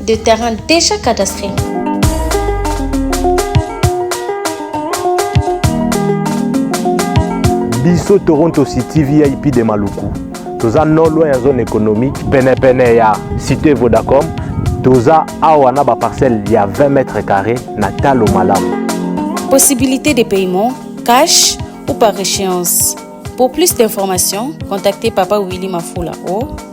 de terrain déjà cadastré. biso toronto city vip de maluku toza no loin ya zone économique penepene ya cité vodacom toza awa na baparcelle ya 20 mètre carré na talo malamu possibilité de paiement cash ou par échéance pour plus d'informations contactez papa willy mafula au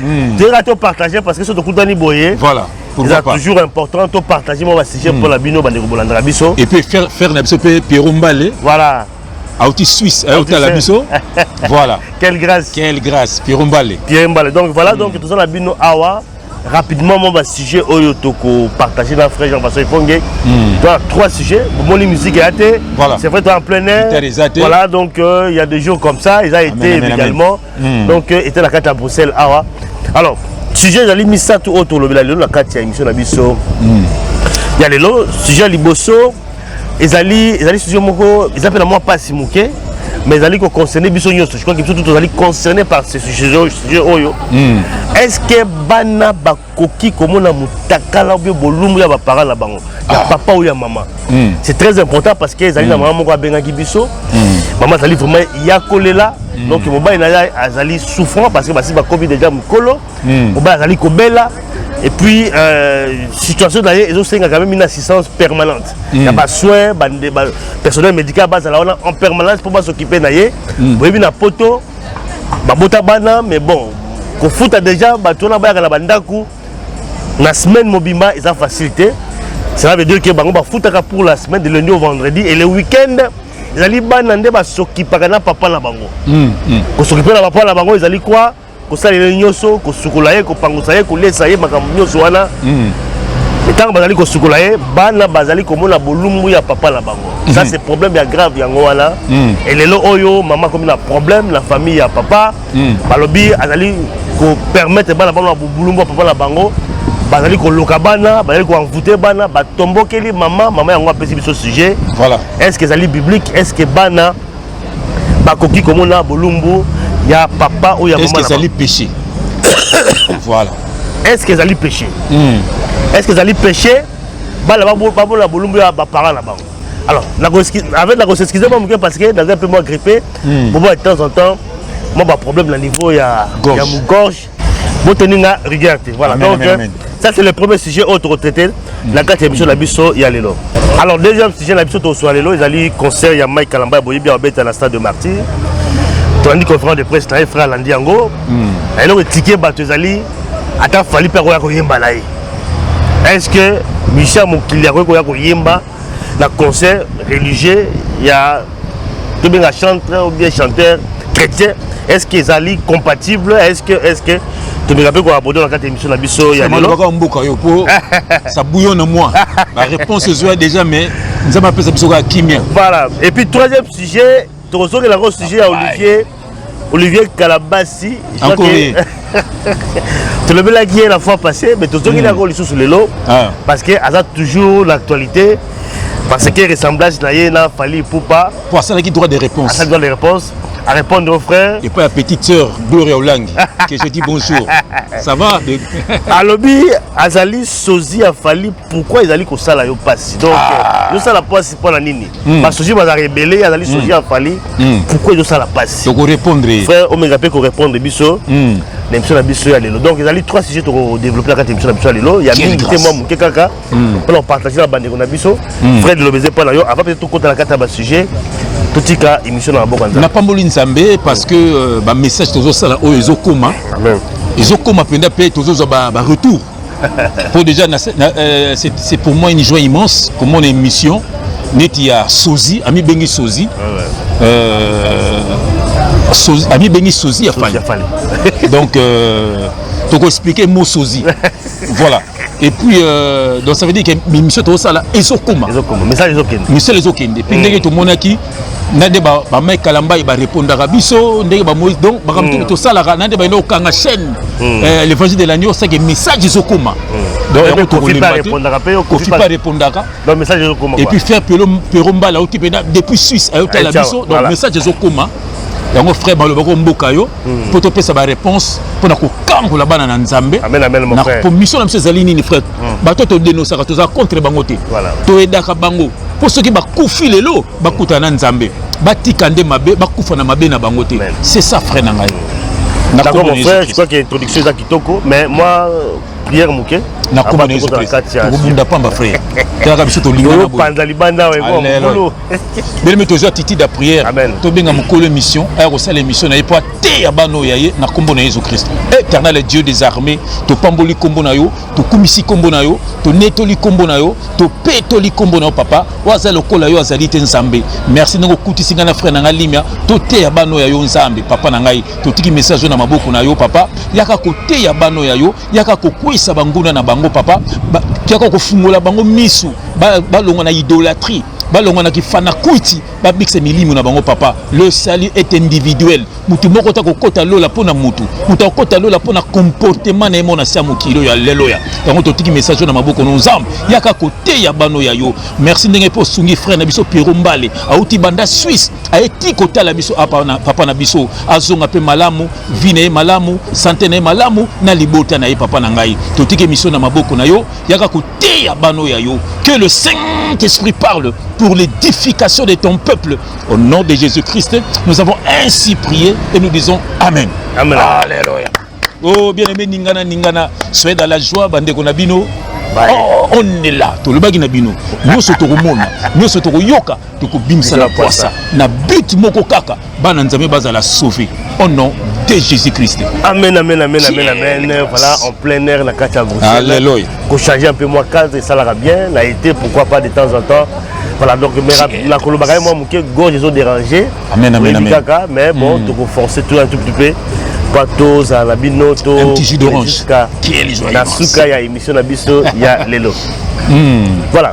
hmm. teka to partage parce que so tokutani boye voilà eza toujours important to partage mwa basujet mpo hmm. na bino bandeko bolandaka biso et puis faire na biso mpe pierro mbale voilà auti suisse ayotala biso voilà quelle grâce quelle grâce pierro mbale pierro mbale donc voilà hmm. donc toza na bino awa rapidement mon bah, sujet oyo toko partager na frère Jean Pascal Fongue hmm. toi trois sujets bomoni musique ya te voilà c'est vrai toi en plein air voilà donc euh, il euh, y a des jours comme ça ils a été également mm. donc euh, était na kati ya bruxelles awa alors sujet ezali misato oyo tolobela lelo na kati ya émission na biso mm. ya lelo sujet ya liboso ezali ezali sujet moko eza mpe na mwa mpasi moke mais ezali koconcerne biso nyonso je crois que biso tout tozali concerné par ce sujet oyo est ce que bana koki komona mutakala ou bien bolumbu ya ba parents na bango ya ah. papa ou ya maman hmm. c'est très important parce que ezali na hmm. maman moko abengaki biso hmm. maman azali vraiment ya kolela donc mobali na ye azali souffrant parce que basi bakomi déjà mokolo mobali azali kobela et puis euh, situation na ye ezosenga quand même une assistance permanente ya basoin personnel médical bazala wana en permanence mpo basokipe na ye boyebi na poto babota bana mais bon kofuta déjà bato wana bayaka na bandako na semaine mobimba eza facile te cela veut dire que bango bafutaka pour la semaine de lundi au vendredi et le week-end ezali bana nde basokipaka na papa na bango mm, mm. kosokipa na papa na bango ezali kwa kosalela ye nyonso kosukola ye kopangusa ye kolesa ye makambo nyonso wana mm. ntango bazali kosukola ye bana bazali komona bolumbu ya papa na bango ça hmm. c'est problème ya grave yango wana hmm. elelo oyo mama akomi na problème na famille ya papa hmm. balobi azali kopermettre bana bango na bobulumbu ya papa na bango bazali koloka bana bazali koenvoute bana batombokeli mama mama yango apesi biso sujet voilà. est ce que ezali biblique est ce que bana bakoki komona bolumbu ya papa oyo ya mama ezali péché voilà est ce que ezali péché est ce que ezali péché bana babola bolumbu ya baparent na bango alors avec na koseskize mwa moke parce que naza un peu mwa grippe hmm. bobola de temps en temps mwa baproblème na niveau ya mogorge botoni nga rigueur te voilà donc euh, ça c'est le premier sujet oyo tokotraite na kati ya émission na biso ya lelo alors deuxième sujet na biso tokoswa lelo ezali concert ya mike kalamba ya boyebi ya obeta na stade de martyr tolandi conférence de presse na ye frère alandi yango hmm. eloko etike bato ezali ata fali mpe akoya koyemba na ye est-ce que musicien ya mokili akoki koya koyemba na concert religieux ya tobenga chantre ou bien chanteur chrétien est-ce que ezali compatible est-ce que est-ce que tomeka mpe koabodo na kati ya émission na biso ya lelobaka mboka yo mpo sabuyo na moi baréponse ezwa déjà mais nzambe apesa biso kaka kimia voilà et puis troisième sujet tokozongela yango sujet ya olivier olivier kalabasi tolobelaki ye la fois passé mais tozongeli yango lisusu lelo ah. parce que aza toujours na actualité parce que ressemblage na ye na fali ipupa po asalaki droit de réponse asali droit de réponse à répondre aux frères. Et pas la petite sœur Gloria Olang, que je dis bonjour. Ça va de... Alobi, Azali, Sozi, Afali, pourquoi ils allaient comme ça là, yo passe Donc, ah. yo ça la passe, c'est pas la nini. mm. basoji bazalaka ebele azali mm. soji ya fali mm. pourkui ezosala mpasi tokorépondre ye frère omenga mpe korépondre biso mm. na émission na biso ya lelo donc ezali trois sujet tokodéveloppe na kati ya émission na biso ya lelo ya mingi te mwa moke kaka mm. mpona kopartage na bandeko na biso mm. frère lelobeze mpo na yo avant peut-être tokota na kati ya basujet totika émission na maboko ya nzambe napamboli nzambe parce que euh, bamessage tozosala oyo ezokoma ezokoma mpenza mpe tozozwa baretour Pour déjà, euh, c'est pour moi une joie immense que mon émission neti ya sozi ami bengi sozi euh, sozi ami bengi sozi ya fali donc euh, toko expliquer mot sozi voilà et puis euh, donc ça veut dire que mission tokosala ezokoma misala ezokende mpe ndenge tomonaki na nde bamai kalambai barepondaka biso ndenge bamoyi donc makambo hmm. tosalaka na nde baina okanga chaîne hmm. eh, l'évangile de l'agneau osaki message ezokoma hmm. donc yango tokolemba te kofi pa repondaka et puis faire pero mbala auti mpena depuis suisse ayotala eh, biso donc message ezokoma yango frère baloba ko mboka yo mpo hmm. topesa baréponse mpo na kokangola bana na nzambe mpo mission na biso ezali nini frère hmm. bato todenosaka toza contre bango te toyedaka bango mpo soki bakufi lelo bakutana na nzambe batika nde mabe bakufa na mabe na bango te c'est ça frère na ngai d'accord mon frère je crois que introduction eza kitoko mais moi prière moke nakomba na yesu kristo tokobunda pamba frère tolaka biso tolinganapanza libanda wekolo belemi tozwa titide ya prière tobenga mokolo émission aya kosala émission na ye mpo ateya bana oyo ya ye na nkombo na yesu kristo éternel dieu des armées topamboli nkombo na yo tokumisi nkombo na yo tonetoli nkombo na yo topetoli nkombo na yo papa oyo aza lokola yo azali te nzambe merci ndenge okutisi ngai na frere na ngai limia toteya bano ya yo nzambe papa na ngai totiki message oyo na maboko na yo papa yaka koteya bano ya yo yaka kokweyisa banguna na bango papa ba, yaka kofungola bango misu balongwa ba na idolatrie balongwa na kifanakwiti babikisa milimo na bango papa le salut est individuel motu moko ta kokota lola mpo na motu motu akokota lola mpo na comportement na ye mona sia mokili oyo ya lelo ya yango totiki message oyo na maboko no nzambe yaka koteya bano ya yo merci ndenge mpe osungi frère na biso piero mbale auti banda suisse aye ti kotala biso apa na papa na biso azonga mpe malamu vi na ye malamu sante na ye malamu na libota na ye papa na ngai totiki emission na maboko na yo yaka teya bano ya yo que le Saint-Esprit parle pour l'édification de ton peuple au nom de Jésus-Christ nous avons ainsi prié et nous disons amen amen alléluia oh bien aimé ningana ningana soyez dans la joie bande na bino oh, on est là tolobaki na bino nyonso tokomona nyonso tokoyoka tokobimisa na pwasa na but moko kaka bana nzambe bazala sauve au nom de jésus christ amen amen amen amen amen voilà en plein air na kati ya bruxelles alléluia kochange un peu mwa cadre esalaka bien na été pourquoi pas de temps en temps voilà donc nakolobaka ye mwa moke gorge ezoderange oyebi kaka mais bon hmm. tokoforce tout un tout petit peu mpo tozala na bino tojuska na suka ya émission na biso ya lelo hmm. voilà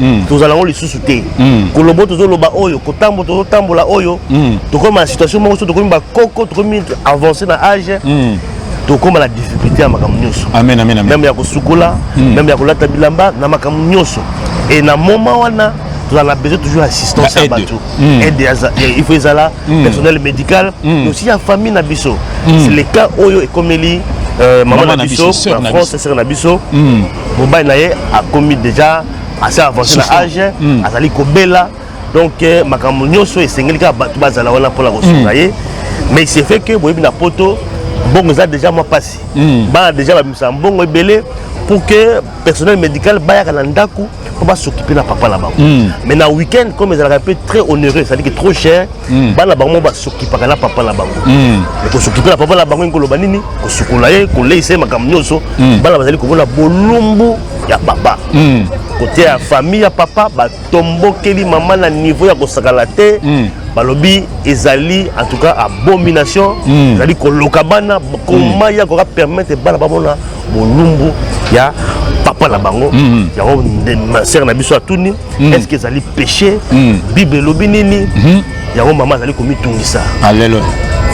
mm. tozala yango lisusu te mm. kolobo tozoloba oyo kotambo tozotambola oyo mm. tokoma na situation moko so tokomi bakoko tokomi avance na age mm. tokoma na difficulté ya makambo nyonso meme ya kosukola meme hmm. ya kolata bilamba na makambo nyonso e na moma wana tozala na besoin toujours assistance ya bato aide hmm. il faut ezala hmm. personnel médical aussi ya famille na biso c'est le cas oyo ekomeli euh, mama na biso na france sere na biso mobali na ye akomi deja assez avancé na age mm. azali kobela donc euh, makambo nyonso esengeli kaka bato bazala wana mpona kosunga mm. ye mais c'est fait que boyebi na poto mbongo eza déjà mwa mpasi mm. bana déjà bamisa mbongo ebele pour que personnel médical bayaka na ndako mpo basokipe na papa na bango mais na week-end comme ezalaka mpe très onéreux c'est-à-dire que trop cher mm. bana bango moko basokipaka na papa na bango mm. kosokipa na papa na bango ekoloba nini kosukola ye koleisa ye makambo nyonso mm. bana bazali komona bolumbu ya papa mm. kote ya famille ya papa batombokeli mama na niveau ya kosakana te mm. balobi ezali en tout cas abomination mm. ezali koloka bana koma mm. ya koka permettre bana bamona bolumbu ya papa na bango mm. yango mm. sere na biso atuni mm. est ce que ezali péché mm. bible elobi nini mm -hmm. yango mama azali komitungisa alleluia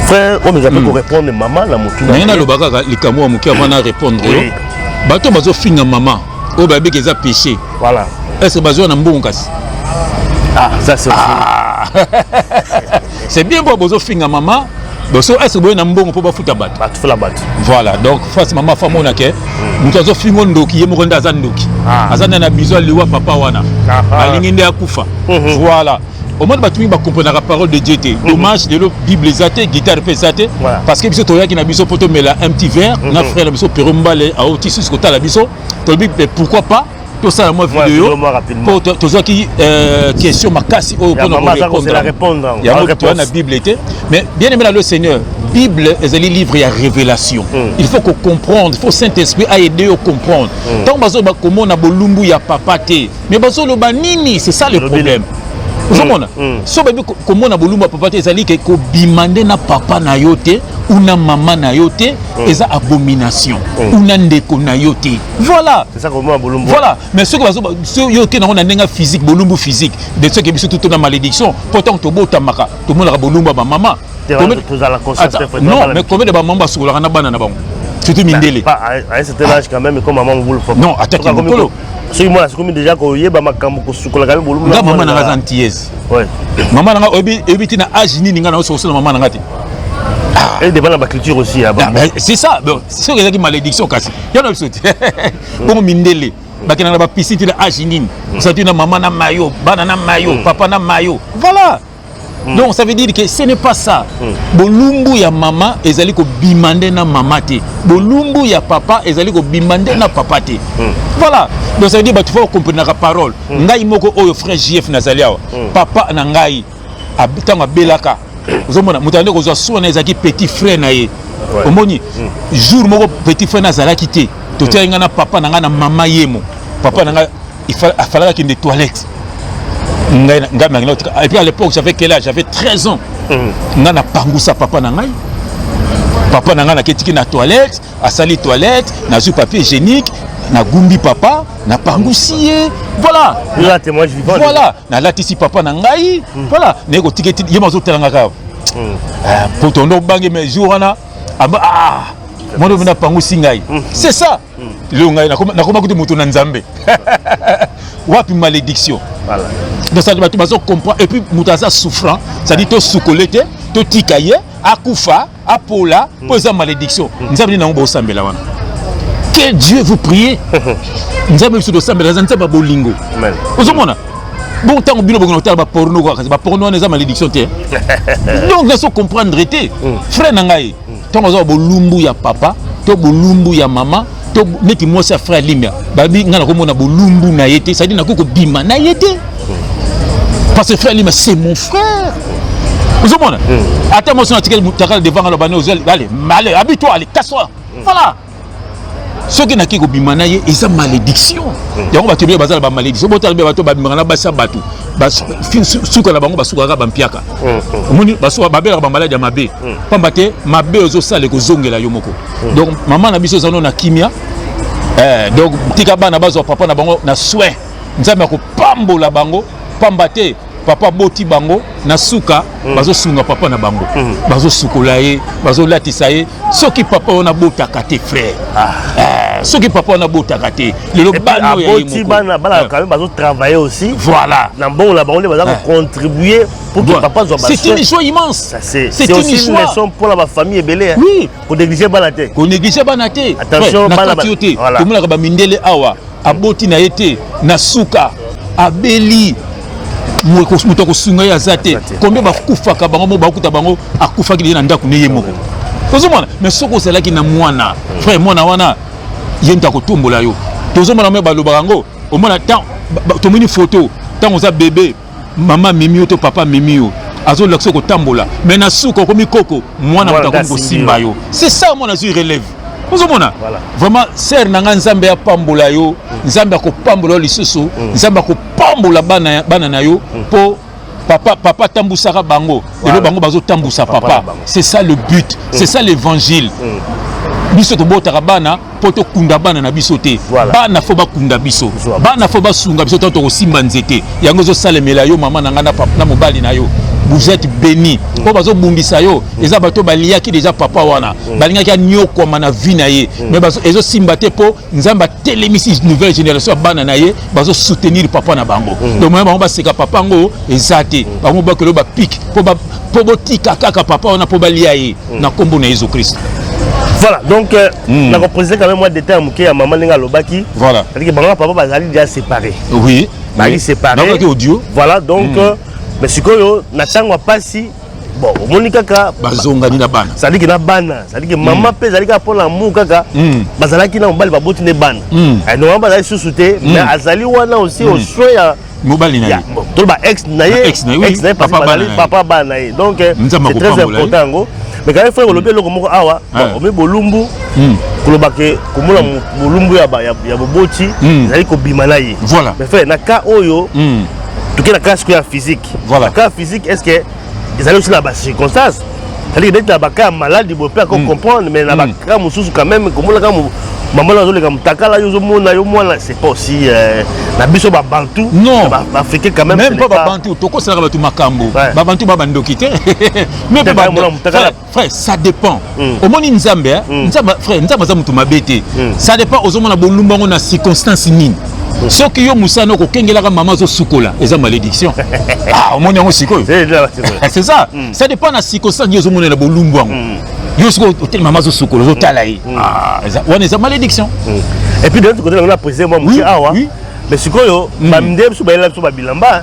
frère oyo ezali mm. korépondre mama na motu nange naloba kaka likambo ya moke avant na répondre yo oui. bato bazofinga mama oyo bayebiki eza péché voilà est ce que bazwa na mbongo kasi ah ça c'est ah. C'est bien quoi bozo finga maman boso est-ce que boye na mbongo mpo bafuta bato batufula bato voilà donc face mama fa mona ke hmm. moto azofingo ndoki ye moko nde aza ndoki ah. aza nde na biso aliwa papa wana ah, ah. alingi nde akufa mhm. voilà omoni bato mingi bakomprenaka parole de dieu te mhm. dommage lelo bible eza te guitare mpe eza te parce que biso toyaki na biso mpo tomela un petit verre mhm. na frère na biso pero mbale aoti susu kotala biso tolobi pourquoi pas tosala mwa video mpo tozwaki euh, question makasi oyo mpona korepondrayango toya na bible te mais bien aimé na le seigneur bible ezali livre ya révélation mm. il faut kocomprendre il faut saint esprit aide yo comprendre hmm. ntango mm. bazoloba komona bolumbu ya papa te mais bazoloba nini c'est ça le problème ozomona mm. mm. so bayebi komona bolumbu ya papa te ezali ke kobima nde na papa na yo te una mama na yo te mm. eza abomination mm. una ndeko na yo te Voilà. C'est ça comment Bolumbu. Voilà. Mais ce que bazo yo te nango na ndenga physique Bolumbu physique. De ce que biso tout na malédiction. Pourtant to bota maka. To mona Bolumbu ba maman. Tozala conscient. Non, mais combien de ba maman basokolaka na bana na bango. Surtout Mindele. Pas à cet âge quand même comme maman Boulou. Non, attaque Mokolo. soki mwana akomi deja koyeba makambo kosukolaka yo bolumbu nga mama nanga aza antillese mama nanga oyebi ti na age nini nga naoso kosala mama nanga te ah. edeba na baculture aussi ah, c'est ça soki ezalaki malédiction kasi ya na biso te bongo mindele bakenda na bapisi ti na age nini osala ti na mama na mayo bana na mayo mm. papa na mayo voilà mm. donc ça veut dire que ce n'est pas ça mm. bolumbu ya mama ezali kobima nde na mama te bolumbu ya papa ezali kobima nde na papa te voilà donc ça veut dire bato fo bakomprenaka parole ngai moko oyo frère jf nazali awa papa na ngai ntango abelaka ozomona moto ande kozwa soi na ezalaki petit frère na ye omoni mm. jour moko petit frère na azalaki te totiaki ngai na papa na ngai na mama yemo papa na ngai afalaka kende toilette ngai ngai nangi naotika et puis à l'époque j'avais quel âge j'avais 13 ans mm. ngai napangusa papa na ngai papa na ngai naketiki na toilette asali toilette nazwi papier hygiénique nagumbi papa napangusi ye voilà voilà nalatisi papa na ngai mm. voilà naye kotika eti ye mazotalanga kaka mm. ah, po tondo obange mais jour wana aba ah, mwana oyo napangusi ngai mm. c'est ça lelo ngai nakoma kutu moto na nzambe wapi malédiction donc bato bazo comprendre et puis moto aza souffrant c'est-à-dire tosukole te totika ye akufa apola mpo hmm. eza malédiction hmm. nzambe nini nango bosambela wana que dieu vous prie nzambe biso tosambela eza nzambe ya bolingo ozomona bon ntango bino bokona kotala baporno kaka baporno wana eza malédiction te donc naso comprendre te hmm. frère na ngai ntango aza bolumbu ya papa to bolumbu ya mama to neti mwasi ya frère limia babi ngai nakomona bolumbu na ye te cestadire nakoki kobima na ye te parce que frère limia c'est mon frère ozomona hmm. ata mwasi na atikeli mutakala devant ngai lobani ozali ale male abi to ale kaswa hmm. voilà soki nake kobima na ye eza malédiction hmm. yango bato ebele bazala bamalédiction botala mpe bato babimaka na basi ya bato suka na bango basukaka bampiaka omoni babelaka bamaladi ya mabe mpamba te mabe ozosala ekozongela yo moko hmm. donc mama na biso eza no na kimia eh, donc tika bana bazwa papa na bango na soin nzambe akopambola bango pamba te papa boti bango na suka mm. bazosunga papa na bango mm. bazosukola ye bazolatisa ye soki papa wana botaka te frère ah. eh, soki papa wana botaka te lelo bana ya ye moko bana bana eh. quand même bazotravailler aussi voilà na mbongo na bango nde baza kocontribue eh. Pour que papa soit C'est une joie immense. C'est une, une leçon pour la famille belé. Hein. Oui. Qu'on néglige pas la tête. Qu'on néglige pas la tête. Attention, pas la tête. Voilà. Comme la ba mindele awa, aboti na été, na suka, abeli. moto akosunga ye aza te combien bakufaka bango moko bakuta bango akufaki leye na ndako ne ye moko tozomona mais soki ozalaki na mwana frère mwana wana ye moto akotombola yo tozomona me balobaka yango omona tomoni foto ntango oza bebe mama amemi yo to papa amemi yo azolakisa kotambola me na suka okomi koko mwana moto akomi kosimba yo c'est ça mwana azwi relève ozomona vraiment sere na ngai nzambe apambola yo mm. nzambe akopambola yo lisusu mm. nzambe akopambola bana, bana na yo mpo mm. papa papa tambusaka bango lelo bango bazotambusa papa, papa. c'est ça le but c'est ça l'évangile biso tobotaka bana mpo tokunda bana na biso te voilà. bana fo bakunda biso bana fo basunga biso ntango tokosimba nzete yango ezosalemela yo mama na ngai na mobali na yo vous êtes béni mpo mm. bazobundisa yo mm. eza bato baliyaki deja papa wana mm. balingaki anyokwama na vie na ye mais ezosimba te mpo nzambe atelemisi nouvelle génération ya bana na ye bazosoutenir papa na bango donc moya bango baseka papa yango eza te bango bakelo bapike mpo botika kaka papa wana mpo balia ye mm. na kombo na Yesu Christ voilà donc euh, mm. na ko préciser quand même moi détail moke ya maman ndenge alobaki voilà c'est-à-dire que bango papa bazali déjà séparé oui bazali séparé na audio voilà donc mm. euh, mais sikoyo na tango ya pasi bon omoni kaka bazongani na bana ezali ke na bana ezali ke mama mpe hmm. ezali kaka mpo na amour kaka hmm. bazalaki na mobali baboti nde bana hmm. eh, normalement bazali susu te mais azali wana aussi oswe ya mobali na ye to ba ex na ye ex na ye papa bana papa bana na ye donc euh, c'est très important yango mais quand frère olobi eloko moko awa ah. omi bolumbu hmm. koloba ke komona hmm. bolumbu ya ya boboti hmm. ezali kobima na ye voilà mais frère na cas oyo toke na cas sikoyo ya physique voilà cas physique est ce que ezali aussi na ba circonstances ezali neti na baka ya maladi boye mpe ako comprendre mais na baka mosusu quand même komona kaka mama na azoleka mutakala yo ozomona yo mwana c'est pas aussi euh, na biso babantu non baafricain quand même même pas babantu tokosalaka bato makambo babantu ba bandoki te mais mpe frère ça dépend mm. omoni nzambe eh? mm. nzambe frère nzambe aza moto mabe te mm. ça dépend ozomona bolumba yango na circonstance nini mm. soki yo mosala no kokengelaka mama azosukola eza malédiction ah, omoni yango sikoyo c'est ça mm. ça dépend na circonstance nini ozomonela bolumbu yango mm. yo soki oteli mama azosukola ozotala ye mm. ah, wana eza malédiction mm. et puis de l'autre côté nango na président mwa moke awa mais sikoyo baminde biso bayela biso babilamba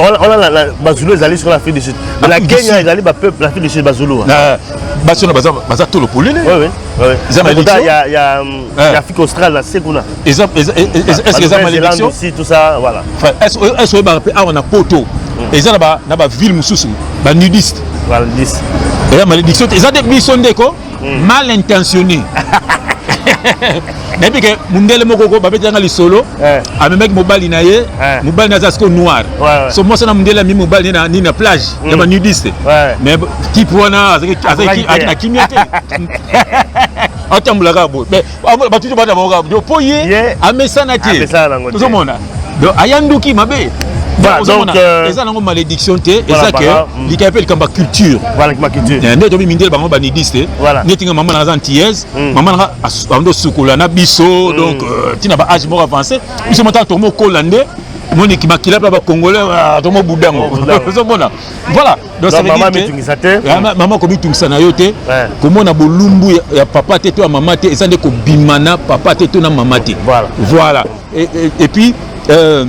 wana bazulu ezali sikoyo na afrique du sud ah, na kenya ezali bapeuple na afrique du sud bazulu basi wana baza tolo polele eza malédiction ya euh. ah. afrique australe na se kuna est-ce que eza malédiction tout ça voilà est-ce que oyebaka mpe awa na poto hmm. eza na baville mosusu banudiste eza malédiction te eza te biso ndeko mm. mal intentionné nayebi ke mundele moko ko babetanga lisolo eh. amemaki mobali na ye eh. mobali na aza siko noir so mwasi na mundele amemi mobali nini na plage ya hmm. banudiste mais kipe wana azaki na kimia te atambolaka boye batuti bana bango kaka mpo ye amesana te ozomona aya nduki mabe euh, eza nango malédiction te eza ke mm. likai mpe likambo ya culture eh, nde tobi mindele bango banidis te neti nga mama nanga aza antillaise mm. mama nanga ando sukola na biso mm. donc euh, ntina ba age moko avancé biso motala tomokola nde moniki makila mpe bacongolais ah, tomobudango ozomona voilà Donc ça veut dire que mitungisa te. Ah, maman ko mitungisa na yo te. Komona bolumbu ya, ya papa te to ya maman te, eza nde ko bimana papa te to na maman te. Voilà. Voilà. Et, et, et puis euh,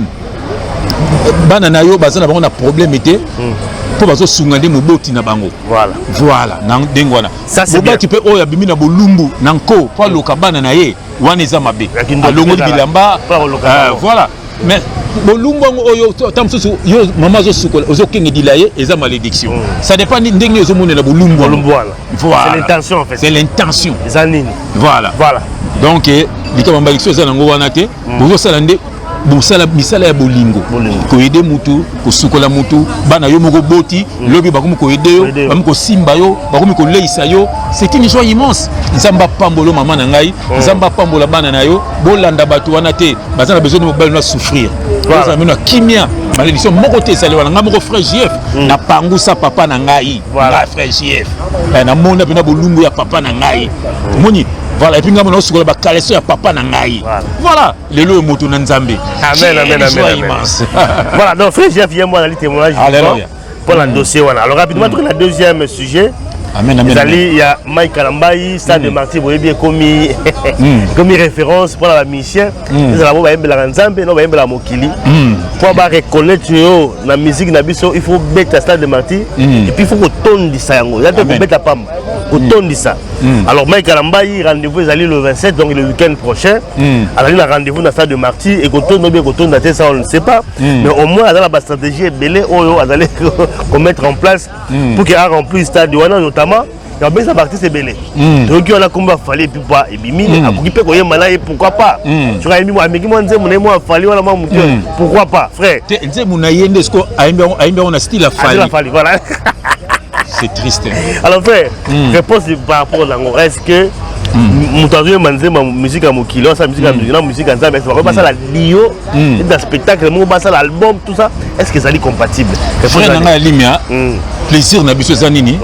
bana na yo baza na bango na problème te. Hmm. mpo bazosunga nde moboti na bango voilà, voilà. na ndenge wana moboti mpe oyo abimi na bolumbu na nko mpo aloka bana na ye wana eza mabe alongoli bilamba euh, voilà mais bolumbu yango oyo ata mosusu yo mama azosukola ozokengedila ye eza malédiction mm. ça dépend ndenge nini ozomonela bolumbu wana c'est l'intention eza nini voilà voilà donc eh, likambo ya malédiction eza nango wana te mm. bozosala nde bosala misala ya bolingo koyede motu kosukola motu bana yo moko boti mm. lobi bakomi koyede yo bakomi kosimba yo bakomi koleisa yo c'est une joie immense nzambe apambolo mama na ngai oh. nzambe apambola bana na yo bolanda bato wana te baza na besoin de mobali na souffrir ozala mino ya kimia malédiction moko te ezali wana ngai moko frère jf hmm. na pangusa papa na ngai ngai frère jf eh, namona mpena bolumbu ya papa na ngai omoni voilà epuis ngai mona osukola bakaleso ya papa na ngai voilà lelo oyo moto na nzambe immense voilà donc frère jf ye mwana ali témoignage mpo na dossier wana alors rapidement mm. toke na deuxième sujet ezali ya mike kalambai stade de mm. martyr boyebi ekomi mm. ekomi référence mpo na bamusicien ezala bo bayembelaka nzambe no bayembelaka mokili mpo bareconnaitre yo na musique na biso il faut beta stade de martyr epuis il faut kotondisa yango ya te kobeta pamba kotondisa Mm. Alors Mike Alambayi, rendez-vous ezali le 27, donc le week-end prochain. Mm. Azali na rendez-vous na stade de Marty et kotondo bien kotonda te ça on ne sait pas. Mm. Mais au moins azala ba stratégie ebele oyo azali ko mettre en place mm. pour qu'il a rempli stade wana notamment ya besa baartiste ebele hmm. toyoki wana kombo afali epi mpo ebimi hmm. akoki mpe koyemba na ye pourkui pas hmm. soki ayembi ameki mwa nzembo na ye mwa afali wana mwa moke pourkui pas frère nzembo na ye nde siko ayembi yango na style afali voilà c'est triste alors frère mm. réponse par rapport à yango est-ce que moto azoyemba nzemba musike ya mokili asala musike ya mokili na musike ya nzambe bakoki basala dio na spectacle moko basala album tout ça est ce que ezali compatible frère na ngai ya limia plaisir na biso eza nini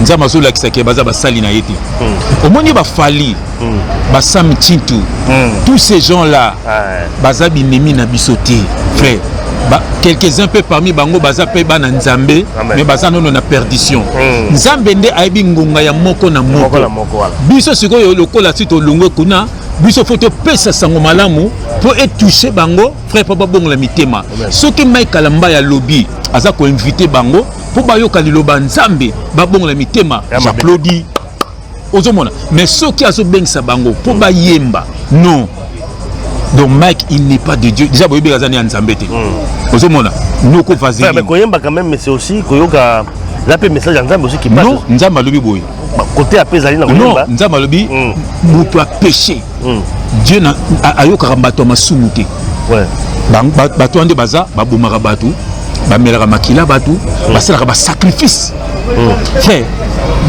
nzambe azolakisaka baza basali na ye te omoni bafali mm. ba Sam Chintu mm. tous ces gens là ouais. baza binemi na biso te frère quelques-uns mpe parmi bango baza mpe bana nzambe mais baza nono na perdition mm. nzambe nde ayebi ngonga ya moko na moko biso sikoyo lokola si tolongwe kuna biso fo topesa sango malamu mpo etouche bango frère mpo babongola mitema soki mike kalamba ya lobi aza koinvite bango mpo bayoka liloba nzambe babongola mitema j'applaudi ozomona mais soki azobengisa bango mpo bayemba non donc mike il n'est pas de dieu déjà boyebeka aza ne ya nzambe te hmm. ozomona noko vaseline koyemba quand même mais c'est aussi koyoka eza mpe message ya nzambe aussi kipanon nzambe alobi boye kote ape ezali na koyemba nzambe alobi hmm. moto apeche mm. dieu na, a, ayokaka bato ya masumu te ouais. bato wana nde baza babomaka bato bamelaka makila bato mm. basalaka basacrifice mm. frère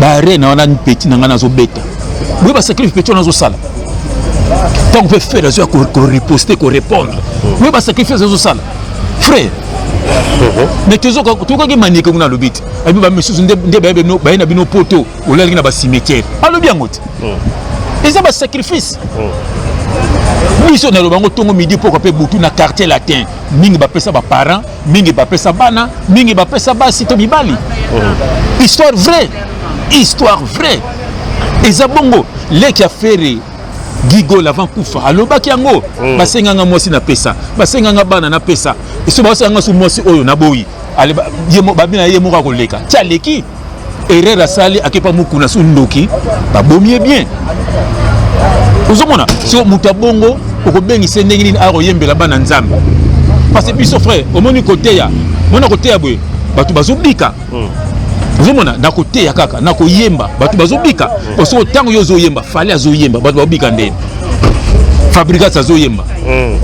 barena wana petit na ngai nazobeta boye basacrifice petit wana azosala ntango mpe frère azoya koriposte korépondre boye basacrifice azosala frère mais tozokaki manike kuna alobi te abi bamisusu nde baye na bino poto olalaki na bacimetiere alobi yango te hmm. eza basacrifice hmm. biso naloba yango ntongo midi pokwa mpe butu na quartier latin mingi bapesa baparent mingi bapesa bana mingi bapesa basi to mibali hmm. histoire vraie histoire vraie eza bongo leki ya fere gigol avant kufa alobaki yango mm. basenganga mwasi napesa basenganga bana napesa eso basenganga so mwasi oyo naboyi babina ye moko akoleka ti aleki erreur asali akepa mukuna su ndoki babomi ye bien ozomona so moto ya bongo okobengisa ndenge nini akoyembela bana nzambe parce biso frère omoni koteya mona koteya boye bato bazobika hmm. ozomona na koteya kaka na koyemba bato bazobika hmm. soki ntango yo ozoyemba fale azoyemba bato babika ndeni fabrigas azoyemba mm.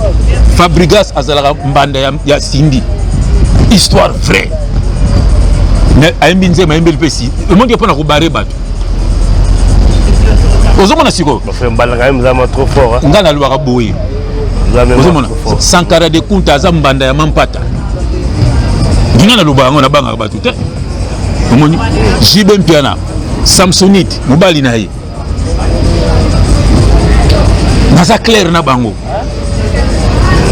fabrigas azalaka mbanda ya, ya sindi histoire vraie mais ayembi nzema ayembeli mpe si omonike mpo na kobare bato ozomona sikoyo ngai nalobaka boye ozomona sankara de kunta aza mbanda ya mampata ngai nalobaka yango nabangaka bato te omoni jibe mpiana samsonite mobali na ye naza claire na bango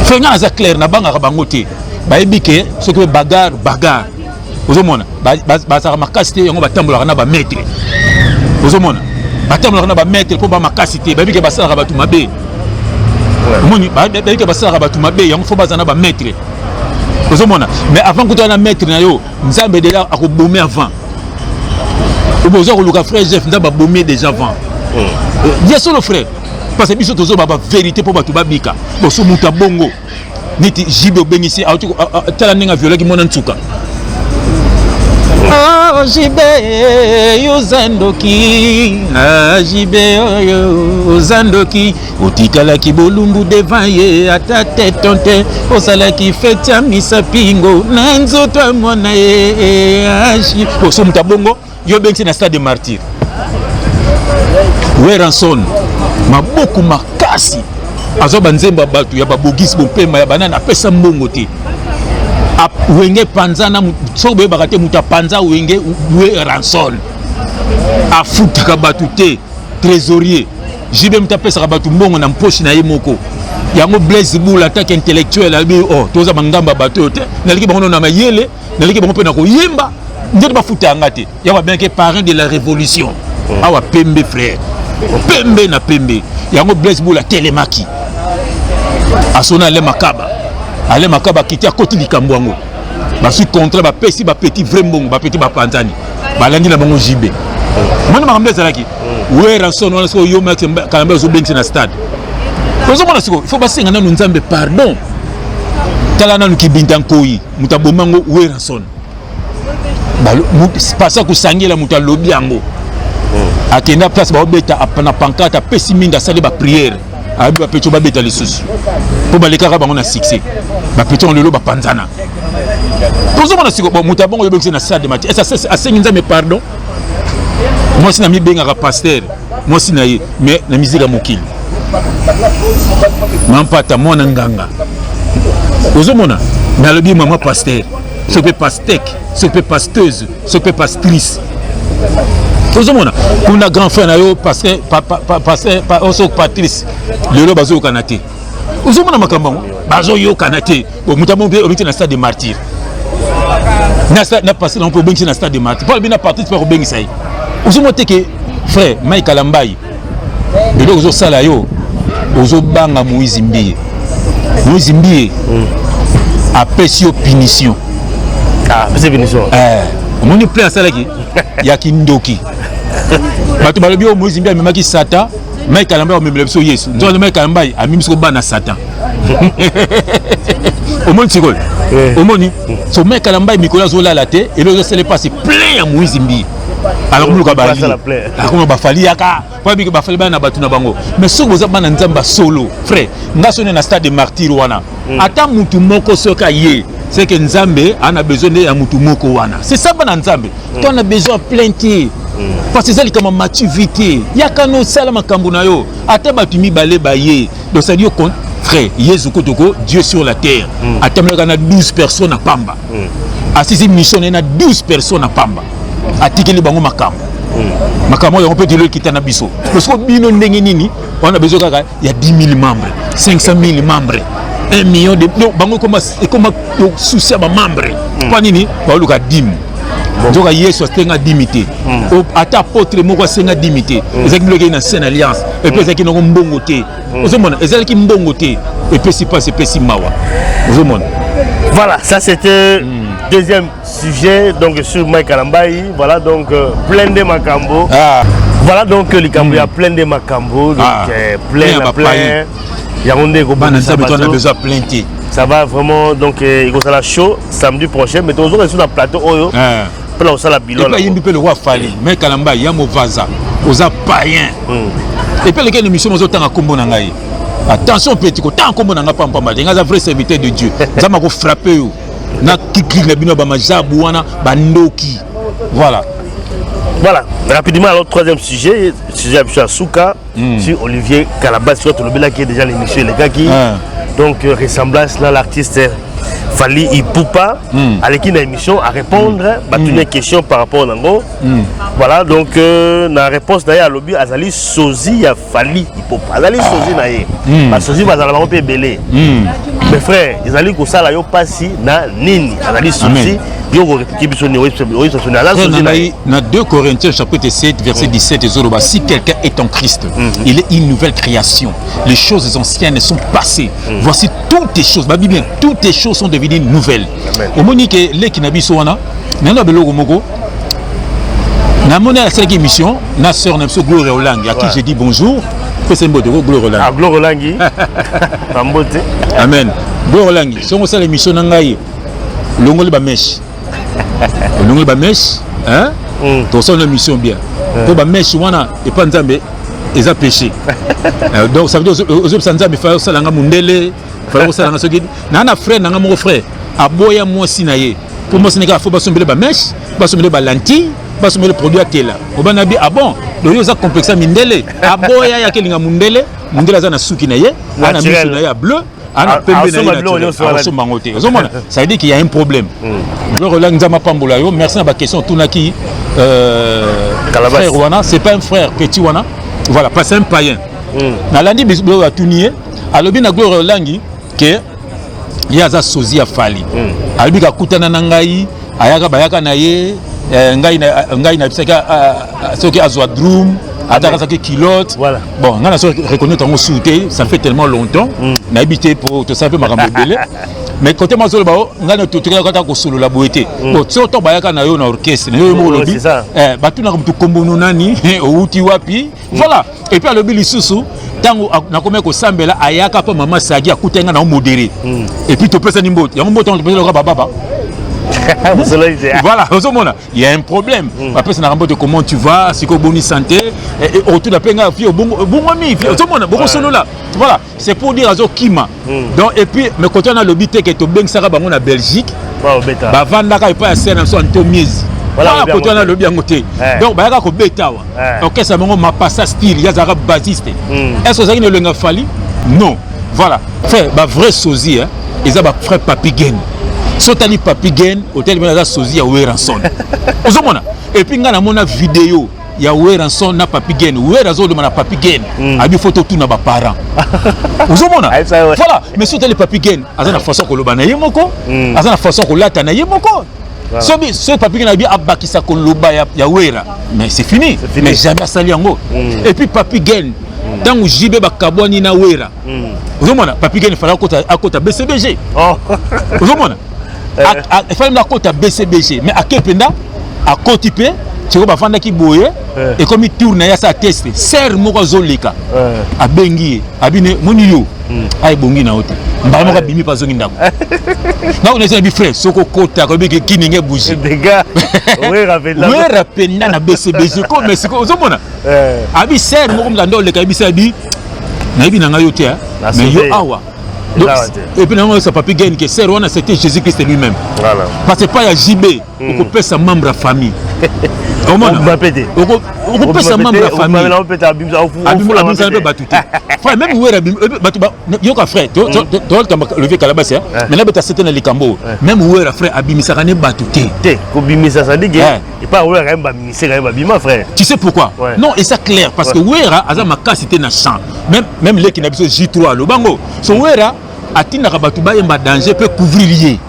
soki nga naza claire nabangaka bango te bayebi ke soki pe bagar bagar ozomona bazalaka makasi te yango batambolaka na bametre ozomona batambolaka na bametre mpo bamakasi te bayebi ke basalaka bato mabe omoni bayebi ke basalaka bato mabe yango fo bazala na bametre ozomona mais avant kuta na maître na yo nzambe deja akobomi avant obe oza koluka frère jeff nzambe abomi deja avant hmm. ya solo frère parce que biso tozoba baverité mpo bato babika boso moto ya bongo neti jibe obengisi tala ndenge aviolaki mwana nsuka ah, jibe oza ndoki ah, jibe oyo oza ndoki otikalaki bolumbu devant ye ata te tonte osalaki feti ya misapingo na nzoto ya mwana ye aji oso moto abongo yo obengisi na stade de martyr weranson maboko makasi azwa banzembo ya bato ya babogisi bopema ya banani apesa mbongo te wenge panzana soki boyebaka te moto apanza wenge we ranson afutaka bato te trésorier JB mutu apesaka bato mbongo na mposhi na ye moko yango blaise bula atake intellectuel alobi o oh, toza bangamba bato oyo te naliki bango na mayele naliki bango mpe na koyemba nzoto bafuta yanga te yango abengaki parrain de la révolution oh. awa pembe frère pembe na pembe yango blaise bula atelemaki asona ale makaba ale makaba akiti akoti likambo yango basui contrat bapesi bapeti vrai mbongo bapeti bapanzani balandi na bango jibe omoni makambo ezalaki werrason wana soki oyomi ati kanambe azobengisa na stade ozomona sikoyo fo basenga nanu nzambe pardon tala nanu kibinta nkoi moto aboma yango werrason pasa kosangela moto alobi yango hmm. akenda place baobeta na pankate apesi mingi asali bapriere ayebi bapetio babeta lisusu mpo balekaka bango na succès bapetio yango lelo bapanzana tozomona sikoyo moto abongo oyebekisi na stade mati asengi nzambe pardon mwasi na mibengaka pasteur mwasi na ye mais na miziki ya mokili mampata mwana nganga ozomona nalobi mama pasteur soki mpe pastek soki mpe pasteuse soki mpe pastrice ozomona kuna grand frère na yo pasteur patrice lelo bazoyokana te ozomona makambo yango bazoyokana te moto amongi obengisi na stade de martyr na pase nango mpe obengisi na stade de martyr mpo alobi na parti mpe akobengisa ye ozomona te ke frère mai kalambai biloko ozosala yo ozobanga moise mbiye moise mbiye hmm. apesi yo punition ah, eh, omoni plein asalaki ya kindoki bato balobi oyo moise mbiye amemaki sata Mike Kalambay omemela biso Yesu. Ndio hmm. Mike Kalambay amimi siko bana Satan. Omoni sikoyo. Eh. Omoni? Hmm. So Mike Kalambay mikolo azolala te, elo ezosele pasi plein ya moizi mbi. Alors muluka ba ali. Akoma ba fali yaka. Kwa biki ba fali bana batu na bango. Mais soko boza bana nzamba solo. Frère, nga sone na stade de martyr wana. Hmm. Ata mutu moko soka ye. C'est que Nzambe ana besoin de ya mutu moko wana. C'est ça bana Nzambe. mm. to na besoin plein te mm. parce eza likambo mati vi te yaka no osala makambo na yo ata bato mibale baye dosali yo frère yesu kotoko dieu sur la terre mm. atambolaka na 12 personnes na pamba mm. asisi mission na ye na 12 personnes na pamba atikeli bango makambo mm. makambo yango mpe telo ekita na biso parce que bino ndenge nini wana bezo kaka ya 10000 membres 500000 membres 1 million de donc bango ekoma ekoma souci ya ba membres hmm. mpo nini baoluka dime nzoka yesu asenga dimi te hmm. ata apotre moko asenga dimi te hmm. ezalaki biloko na saine alliance epe hmm. ezalaki nango mbongo te ozomona ezalaki mbongo te epesi mpasi epesi mawa ozomona voilà ça c'était deuxième sujet donc sur Mike Kalambayi voilà donc euh, plein de makambo ah. voilà donc euh, likambo ya mm. plein de makambo donc ah. euh, plein na plein yango nde ekobandisa bato on a besoin plein te ça va vraiment donc euh, ekozala chaud samedi prochain mais tozoka lisusu na plateau oyo ah. mpe na kosala bilona ayimbi mpe lokwa fali mai kalamba ya movaza oza payen hmm. epe alekei na émission mozotanga nkombo na ngai attention petit kotanga nkombo na ngai pampamba te ngai aza vrai serviteur de dieu nzambe akofrappe yo na kikili na bino ya bamajabu wana bandoki voilà voilà rapidement alors troisième sujet sujet ya biso ya suka mm. si olivier kalabas oyo tolobelaki déjà l'émission elekaki ah. donc euh, ressemblance na l'artiste fali ipupa mm. aleki na émission à répondre mm. batuni mm. question par rapport nango mm. voilà donc euh, na réponse na ye alobi azali sozi ya fali ipopa azali sozi na ye hmm. basozi bazala bango mpe ebele hmm. mes frère ezali kosala yo mpasi na nini azali sozi yo okoreplike biso nini oyebisa biso nini aza sozi na ye na 2 corinthiens chapitre 7 verset 17 hmm. ezoloba si quelqu'un est en christ il est une nouvelle création les choses anciennes sont passées voici toutes les choses babi bien toutes les choses sont devenues nouvelles omoni ke leki na biso wana nano ya biloko moko namoni asalaki émission na sœur na biso gloria olangi à qui j'ai dit bonjour pesa mbote ko gloria olangi ah, gloria olangi bambote amen gloria olangi songo osala émission na ngai olongoli bameshe olongoli bameshe hmm. tosala na émission bien mpo hmm. bameshe wana epa nzambe eza péché euh, donc ça veut dire ozobisa nzambe fala osalanga mondele fala osalanga soki naa na frère nanga moko frère aboya mwasi na ye Pour moi, Sénégal, il faut basomber les mèches, basomber les lentilles, basomber les produits à tela. Au banabi, ah bon, le yo a complexe à mindele. Ah bon, il y a quelqu'un à mundele, mundele a un souki naye, a un souki naye bleu. ana pembe na yeasomba yango te ozomona ça veut dire qu'il y a un problème gloria nzama pambola yo merci na baquestion otunaki frère wana c'est pas un frère petit wana voilà parce un païen nalandi biso oyo atuni ye alobi na gloria olangi ke ye aza sozi ya fali mm. alobi kakutana na ngai ayaka bayaka na ye eh, ngai eh, nayebisaki ah, ah, ah, soki azwa drum ata akazaki kilote voilà. bon ngai naso reconnaître yango suu te ça fait tellement longtemps mm. nayebi te mpo tosala mpe makambo ebele mais kote mwa zoloba o ngai na totikaka ata kosolola boye te mm. bon soki ntango bayaka na yo na orchestre na yo yo moko olobi eh, batunaka motu kombono nani owuti wapi mm. voilà epuis alobi lisusu ntango nakomaki kosambela ayaka mpo mama sagi akutaki ngai na omodere hmm. epuis topesani mbote yango mbote yango topesani loka bababa voilà ozomona il y a un problème hmm. bapesa na kambote comment tu vas sikoyo boni santé autour na mpe ngai fi obongwami fi ozomona bokosolola voilà c'est pour dire azo kima mm. donc et puis me koto na lobi teke to bengsaka bango na Belgique ba vandaka epa ya sena so anto miezi voilà koto wana alobi yango te eh. donc bayaka kobeta awa eh. orchestre bango mapasa style yazalaka basiste hmm. est ce ozalaki na elenga fali non voilà fe bavrai sozi eza bafrai papi gen so otali papi gen otali bana aza sozi ya weranson ozomona epuis ngai namona video ya Werrason na Papi Gen. Werra azo lema na Papi Gen. Mm. Abi faut totuna ba parents. Ozomona? Voilà, mais surtout les Papi Gen, aza na façon koloba na ye moko, mm. aza na façon kolata na ye moko. Voilà. Sobi ce Papi Gen abi abakisa koloba ya, ya Werra. Mais c'est fini. fini. Mais jamais asali yango. Mm. Et puis Papi Gen ntango jb bakabwani na wera ozomona papi gene fala akota bcbg ozomona efali mpe akota bcbg mais ake mpenza akoti mpe sikoyo bafandaki boye eh. ekomi tour na ye asala teste ser moko azoleka eh. abengi ye abine moni yo hmm. aebongi na yo te mbala moko eh. abimi mpe azongi ndako nakonesi na bifrai soki okota koyebeke kininge buji wera mpenza na bcbg ko mais sikoyo ozomona abi ser moko mzanda oleka yebisa abi nayebi na ngai yo te mais yo awa Donc, et puis nango sa papi gagne que sœur wana c'était Jésus Christ lui-même. Voilà. Parce que pas ya JB, mm. okopesa membre ya famille. omona okopesa membre ya familleabimisa mpe bato te frère meme wera bato yoka frère toolitamba levier kalabasi mais nabeta sete na likambo oyo meme wera frère abimisaka ne bato te te kobimisa sadike epai oyo akayebi baministre kayebi babima frère tu sais pourquoi ouais. non eza clair parce ouais. que wera aza makasi te na champ même, même leki na biso j3 aloba ngo so wera atindaka bato bayemba danger mpe couvrir ye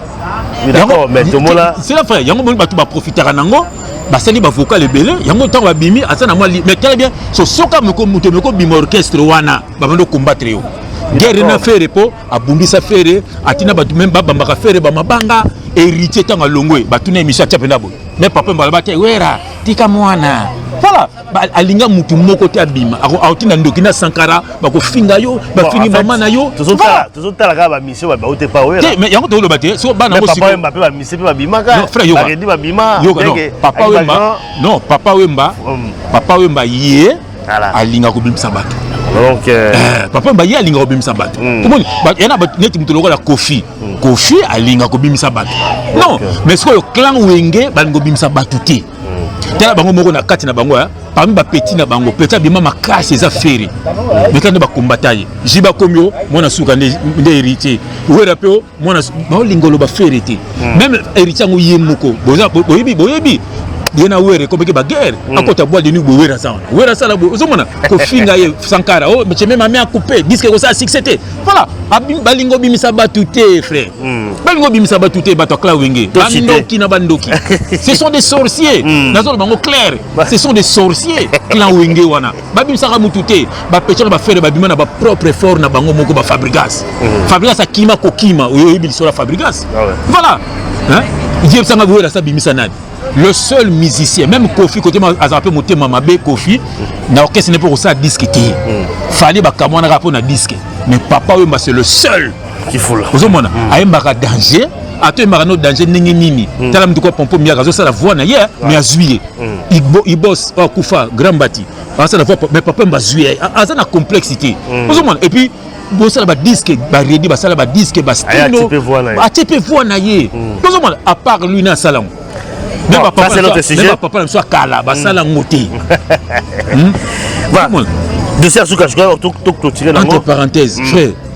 sela frère yango moni bato baprofitaka nango basali bavocal ebele yango ntango babimi aza na mwa mais très bien so soka moto mekobima orchestre wana babandi okombattre yo guerre na fere mpo abundisa fere atina bato meme babambaka fere bamabanga héritier ntango alongwe batuna emission atya mpenza boye me papa mbala bate wera tika mwana voilà alinga motu moko te abima akotinda ndoki na sankara bakofinga yo bafingi mama na yo tozotala kaka bamisio babau te pa wera mais yango tokoloba te so bana yango sikoyo mbape bamisio mpe babimaka frère yoka babima yoka non papa wemba non papa wemba papa wemba ye alinga kobimisa bato donc euh, eh, papa mbaye alinga kobimisa bato hmm. omoni yana neti moto lokola kofi hmm. kofi alinga kobimisa bato non mais sikoyo clan wenge balinga kobimisa bato te hmm. tala bango moko na kati na bango eh. parmi bapeti na bango peti abima makasi eza feri meta nde bakombata ye ji bakomi o mwana suka nde héritier wera mpe mwana baolinga oloba fere te hmm. meme héritier yango ye moko boyebi boyebi ye na were ekobaki baguerre hmm. akota bwa de nuit bo were aza wana were asala bo ozomona kofinga ye sankara o oh, metie meme ame akupe diske ekosala succès te voilà balingi obimisa bato te frère hmm. balingi obimisa bato te bato ya cla wenge bandoki na bandoki ce sont des sorciers nazoloba yango claire ce sont des sorciers clan wenge wana babimisaka mutu te bapechaka bafere babima na bapropre effort na bango moko bafabrigas mhm. fabrigas akima kokima oyo oyebi lisolo ya fabrigas ah voilà yebisanga goyela sa bimisa nani le seul musicien même kofi kote azala mpe motema mabe kofi na orchestre ne mpe kosala diske te mhm. fali bakamwanaka mpo na diske mais papa oyomba c'est le seul kifula ozomona mm. ayembaka danger ato yembaka no danger ndenge nini mm. tala mituka pompo miaka azosala voix na ye yeah. mais azwi ye mm. ibos oh, akufa grand bati asala voix mais papa mba azwi ye aza na complexité mm. ozomona et puis bosala badisque baredi basala badisque bastino atie mpe voix na ye mm. ozomona à part lui na asala yango papa na biso akala basala yango te dossier ya suka sikoyo toclotire nango entre parenthèse mm. frère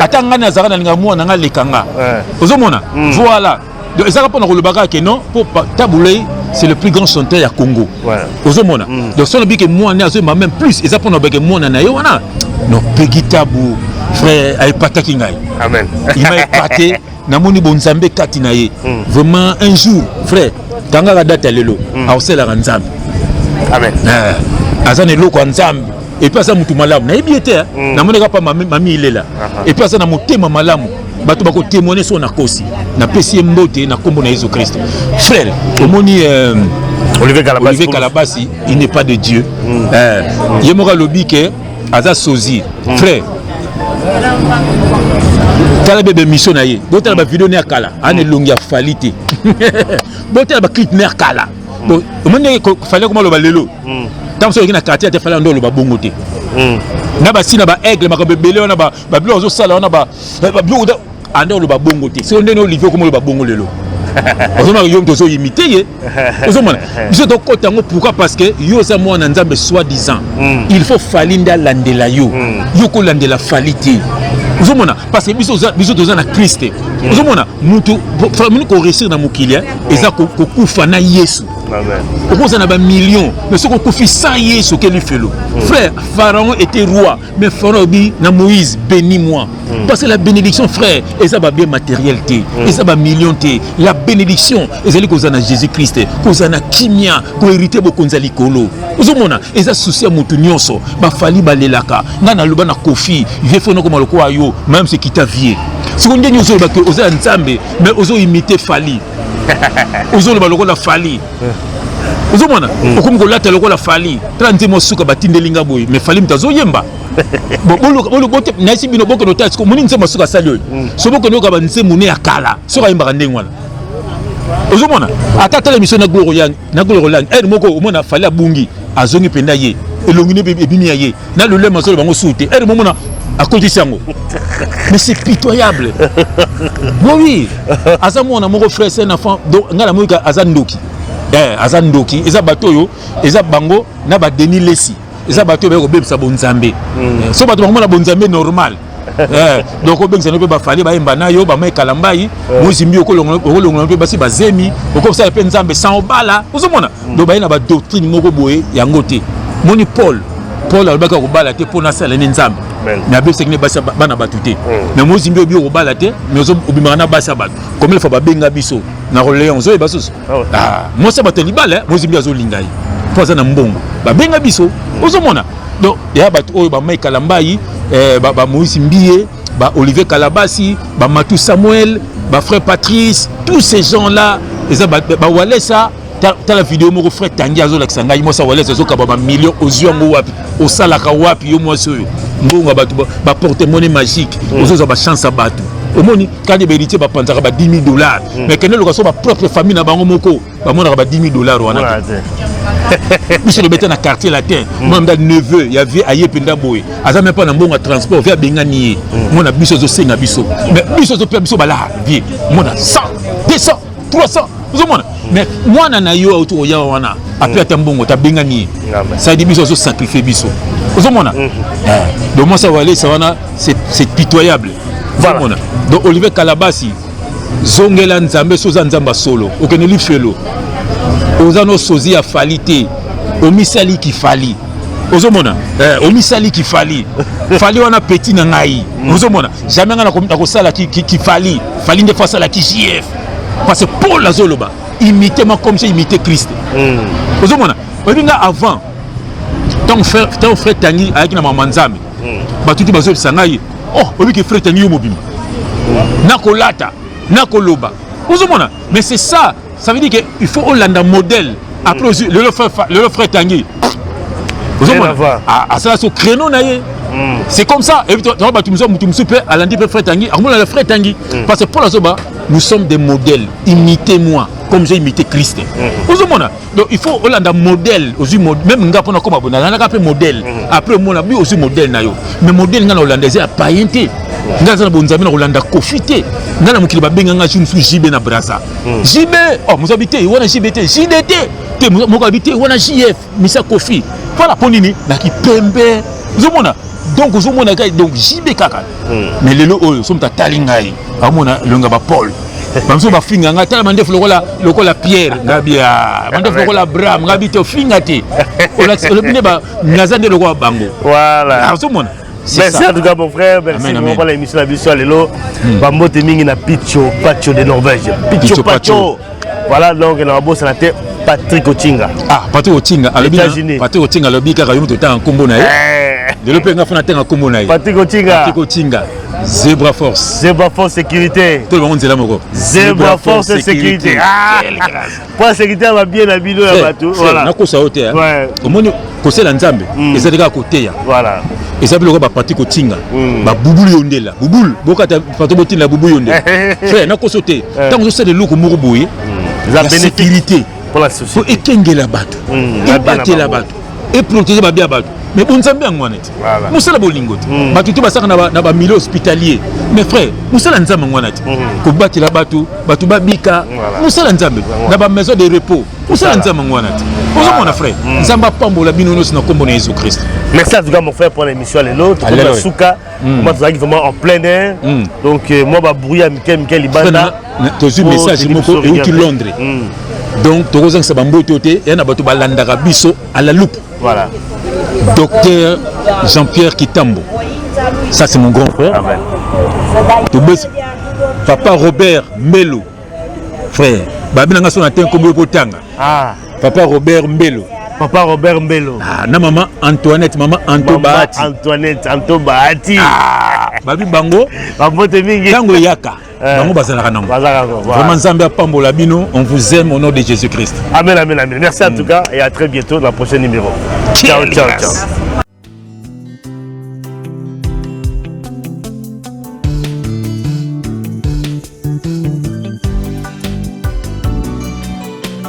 ata ngai nazalaka na linga mwana ngai aleka nga eh. ozomona hmm. voilà donc ezalaka mpo na kolobaka ke non mpo tabulei c'est le plus grand chanteur ya congo ozomona hmm. donc soki nabike mwana azoyemba même plus eza mpo na obeke mwana na ye wana non pegi tabu frère ayepataki ngai il m'a épaté namoni bonzambe kati na ye mm. vraiment un jour frère tangaka date ya lelo mm. akosalelaka nzambe amen eh, aza na eloko ya nzambe epuis aza motu malamu nayebi ye te eh. mm. namonaka pa mami, mami ilela epuis aza na motema malamu bato bakotemoine so nakosi napesi ye mbote na nkombo na yesu kristo frère omoni euh, olivier kalabasi, olivier kalabasi il n'est pas de dieu mm. eh, ye moko alobi ke aza sozi mm. frère tala bebe mission na ye botala bavideo ne ya kala ana elongi ya fali te botala baclip ne ya kala omoni ndenge fali akoma aloba lelo ntango soki oyoki na quartier ate fali ando oloba bongo te na basi na baaigle makambo ebele wana babiloko azosala wana babiloko anda oloba bongo te sio ndeni olivier okoma oloba bongo lelo ozomaka yo moto ozoyimite ye ozomona biso tokota yango pourquoi parce que yo oza mwana nzambe soit disant hmm. il faut fali nde alandela yo hmm. yo kolandela fali te ozomona parce que biso toza na krist te hmm. ozomona motu famini koresire na mokili eh, eza kokufa na yesu okozala na bamillion mais soki okufi sans yesu okeli felo frère pharaon était roi mais fana obi na moïse béni moi mm. parce que la bénédiction frère eza babien matériel te mm. eza bamillion te la bénédiction ezali kozala na jésus christ kozala na kimia koherite bokonzi ya likolo ozomona eza susi ya moto nyonso bafali balelaka ngai naloba na kofi vie fo nakoma lokola yo mayam se kita vie siko ndenge ozoloba ke oza ya nzambe mais ozoimite fali ozoloba lokola fali eh. ozomona mm. okomi kolata lokola fali tala nzembo suka batindeli nga boye mais fali moto azoyemba nayesi bino bokende otala siko omoni nzembo suka asali oyo mm. so bokende oyoka banzembo ne ya kala soki ayembaka ndenge wana ozomona ata tala emission na gloro yang na gloro lang ere moko omona fali abungi azongi mpenza ye elongi ne ebimi ya ye na lolemo azolo bango suu te ere momona akotisi yango mais c'est pitoyable bon oui aza mwana moko frère c'est un enfant donc ngai namoni aza ndoki eh, aza ndoki eza bato oyo eza bango na badeni lesi eza bato oyo bayaki kobebisa bonzambe mm. eh, so bato bakomona bonzambe normal eh, donc obengisa no mpe bafali bayemba na yo bamai kalambai eh. mozimbi okolongola mpe basi bazemi okosala mpe nzambe sans obala ozomona hmm. donc baye na badoctrine moko boye yango te moni paul paul alobaki akobala te mpo nasala nde nzambe me abebisaki nde basi bana bato te hmm. me mozimbi oyebi okobala te me obimaka na basi ya bato komilefa babenga biso na roleon ozoyeba susu ah ah, mwasi ya bato ya libala eh, mozimbi azolinga ye mpo aza na mbongo babenga biso hmm. ozomona donc ya bato oyo bamai kalambai eh, bamoïse mbiye ba olivier kalabasi bamatu samuel bafrère patrice tous ces gens là eza bawalesa ba tala video moko frère tangi azolakisa ngai mwasi awalesi azokaba bamillion ozwi yango wapi osalaka wapi yo mwasi oyo mbongo ya bato baporte mone magique mm. ozozwa bachance ya bato omoni kani baheritier bapanzaka ba 10 000 dollars mm. mais kende loka so bapropre famille na bango moko bamonaka ba 10 000 dollars wana biso lobeta na quartier latin mm. mwana mda neveu ya vie aye mpenza boye aza me mpo na mbongo ya transport vie abengani ye mwana biso ezosenga biso mais biso ezopesa biso balaa vie mwana 100 200 300 ozomona hmm. mais mwana na yo auti koya wana ape hmm. ata mbongo tabengani ye sadi biso azosacrifie biso ozomona hmm. eh, donc mwasi ya walesa wana c'est pitoyable ozomona donc olivier kalabasi zongela nzambe so oza nzambe ya solo okende lifelo oza no sozi ya fali te omisali kifali ozomona eh, omisali kifali fali wana peti na ngai ozomona Jamais nga na kosala ki ki ki fali fali nde face à la ki JF parce que Paul azoloba imiter moi comme j'ai imité Christ. Mm. Ozomona oyebi nga avant ntango frère ntango frère Tangi ayaki na mama Nzambe mm. bato te bazoyebisa ngai oh oyebi ke frère Tangi yo mobimba mm. nakolata nakoloba ozomona mais c'est ça Ça veut dire que il faut olanda modèle. Après mm. le frère le frère Tanguy. asala so créneau na ye mm. c'est comme ça toa bato mosusu moto mosusu mpe alandi mpe frais tangi akomona le frais tangi mm. parce que mpo nazoba nous sommes des modèles imitez moi comme j'ai imité christ mm. ozomona donc il faut olanda modèle ozwi même nga mpona koma bona alandaka mpe modèle après omona bi ozwi modèle na yo mais modèle nga na olanda eza ya payen te nga aza na bonzambe na kolanda kofi te nga na mokili babenga nga jour mosusu jibe na brasa hmm. JB oh mozabi te wana JB te JDT te mokabi te wana JF misa Kofi voilà mpo nini na kipembe ozomona donc ozomona kai donc JB kaka hmm. mais lelo oyo somo tatali ngai amona elonga ba Paul bamosusu bafinga ngai tala mandefu lokola lokola pierre ngabi ah, mandefu lokola abraham ngabi te ofinga te olobi nde naza nde lokola bango ozomona merci en tout cas mon frère merci vraiment pour l'émission la biso lelo hmm. bambote mingi na picho pacho de norvège picho pacho voilà donc na babosana te patrick otinga ah patrick otinga alobi patrick otinga alobi kaka yo moto otanga nkombo na ye eh. lelo mpe nga fona atanga nkombo na ye patrick otinga patrick otinga Zebra Force. Zebra Force Sécurité. Tout le monde est là, Moko. Zebra, Zebra Force, Force Sécurité. Sécurité. Ah. mpo asekite ya babie na bino ya bato nakosa yo te eh. omoni kosela nzambe mm. ezali kaka koteya eza biloko bapati kotinga mm. babubulu yo ndela bubulu bokata pato botinda bubulu yo ndela frère nakoso te ntango eh. ozosala eloko moko boye mm. ya sécurité mpo ekengela bato ebatela bato eprotege babi ya bato mais bonzambe yango wana voilà. mosala bolingo te mm. bato te basaka na bamilio hospitalier mais frère mosala nzambe yango wana te mm. kobatela bato bato babika voilà. mosala nzambe voilà. na bamaison de repos mosala nzambe yango wana te ozomona frère mm. nzambe apambola bino nyonso na nkombo na yesu kristo merci en tout cas mon frère pour l'émission lelo tokomi na suka koma tozalaki vraiment en plein air donc euh, mwa babruit ya mike mike libanda tozwi message moko euti londres donc tokozangisa bamboto te ya na bato balandaka biso à la loupe Voilà. Docteur Jean-Pierre Kitambo. Ça, c'est mon grand frère. Amen. Papa Robert Melo. Frère. Babi nanga son atteint comme Botanga. Ah. Papa Robert Melo. Papa Robert Melo. Ah, na maman Antoinette, maman Anto maman Bahati. Antoinette, Anto Bahati. Ah. Babi Bango. Babote mingi. Tango Yaka. Eh. bango bazalaka nango vraiment nzambe apambola bino on vous aime au nom de jésus christ amen amen amen merci en mm. tout cas et à très bientôt dans le prochain numéro ciao ciao ciao